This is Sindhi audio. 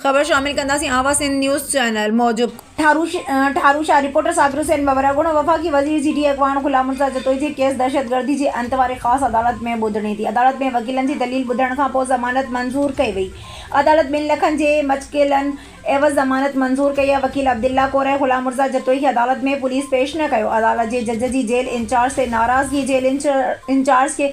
خبر شامل ڪنداسين آواز سنڌ نيوز چئنل موجب ٺارو شاهه رپورٽر صابر حسين ٻٻر اڳوڻو وفاقي وزير جي ڊي اڳواڻ غلام مرتضيٰ جتوئي جي ڪيس دهشتگردي جي انت واري خاص عدالت ۾ ٻڌڻي ٿي عدالت ۾ وڪيلن جي دليل ٻڌڻ کان پوء ضمانت منظور ڪئي وئي عدالت ٻن لکن جي مچڪيلن عيوض ضمانت منظور ڪئي آهي وڪيل عبدالله ڪوري غلام مرتضيٰ جتوئي کي عدالت ۾ پوليس پيش نه ڪيو عدالت جي جج جي جيل انچارج تي ناراضگي جيل انچارج کي